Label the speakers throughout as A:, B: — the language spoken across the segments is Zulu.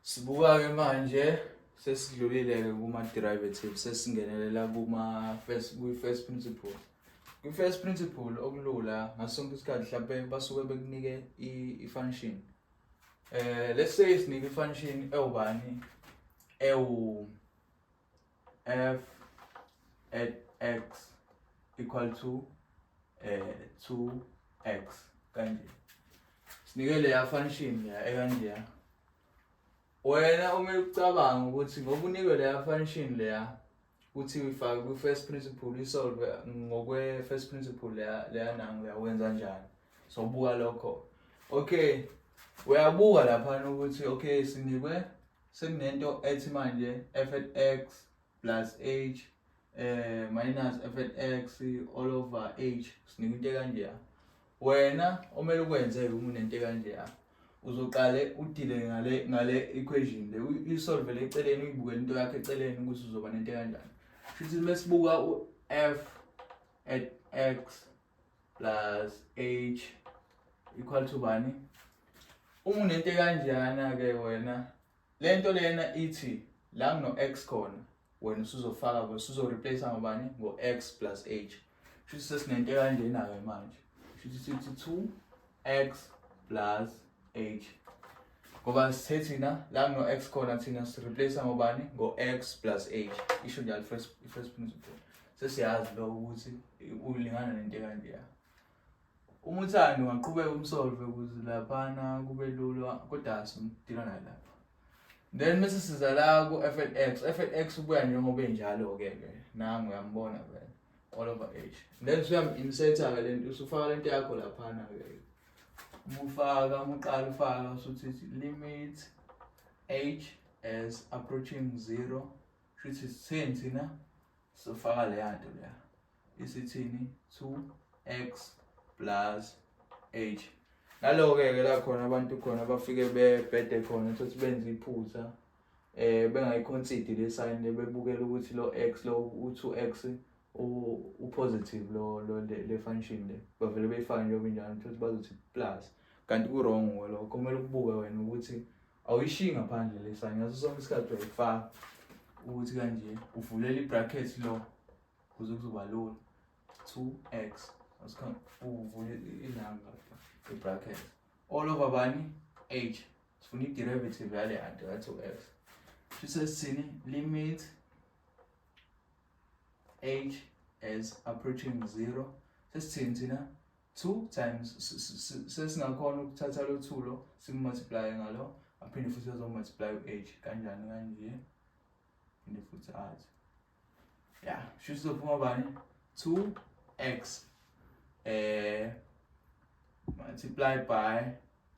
A: Sibuka-ke manje sesidlulile-ke kuma-derivative sesingenelela kuma-first kwi-first principle kwi-first principle okulula ngaso sonke isikhathi mhlawumpe basuke bekunike i-function um let's say sinike i-function ewubani ewu f at x equal to eh 2x kanje sinike leya function ya ekanje ya wena uma ucabanga ukuthi ngoba unikwe leya function leya uthi uyifake kwi first principle uyisolve ngokwe first principle leya leya nangu uyawenza njani so buka lokho okay uyabuka lapha ukuthi okay sinikwe sekunento ethi manje fx plus h eh minus fx all over h sinika into kanje wena omele ukwenze uma unento kanje uzoqale udile ngale ngale equation le uyisolve le eceleni uyibukele into yakhe eceleni ukuthi uzoba nento kanjani futhi mesibuka u f at x plus h equal to bani uma unento kanjana ke wena lento lena ithi la kuno x khona wena usuzofaka ke usuzo replace ngobani ngo x plus h shuthi sesinento kanjena ke manje shuthi sithi 2 x plus h ngoba sithe thina la kuno-x khona thina sireplace ngobani ngo-x plus h isho njalo first first principle sesiyazi lo ukuthi ulingana nento kanjeya uma uthanda ungaqhubeka umsolve ukuze laphana kube lula kodwa simdila naye lapha then bese siza la ku-f and x f and x ubuya njengoba enjalo-ke ke nangu uyambona vele all over age then suyam-insert-ke le nto usufaka le nto yakho laphana-ke umufaka umuqala ufaka usuthi limit age as approaching zero shuthi sitheni thina sofaka leya nto leya isithini 2x plus h naloke-ke la khona abantu khona bafike bebhede khona ukuthi benze iphutha eh bengayiconsider le sign bebukela ukuthi lo x lo u2x upositive lo lo le function le bavele beyifake njengoba injalo futhi bazothi plus kanti ku wrong lokho kumele ukubuke wena ukuthi awuyishiyi ngaphandle le sign ngaso sonke isikhathi uyayifaka ukuthi kanje uvulela i-bracket lo kuze kuzoba lula 2x asikhambe uvule ilanga i-bracket all over bani h sifuna i-derivative yale anti that's u-x shise sithini limit h as approaching zero sesithini thina two times sesingakhona ukuthatha lo two lo simultiplye ngalo aphinde futhi azomultiplye u-h kanjani kanje phinde futhi athi ya shuthi uzophuma bani two x eh multiply by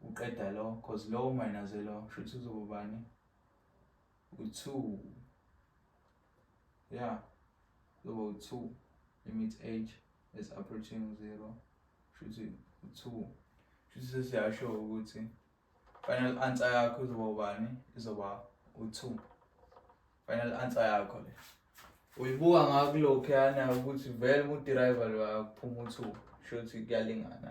A: uqeda lo cause lowo mayinaze lo shuthi uzoba bani u-two ya uzoba u-two limit age is approaching zero shuthi u-two shuthi sesiyasho ukuthi final answer yakho izoba ubani izoba u-two Final answer yakho le. Uyibuka ngakulokhuyana ukuthi vele udriver lo akuphuma uthuba. Sho ukuthi kuyalingana.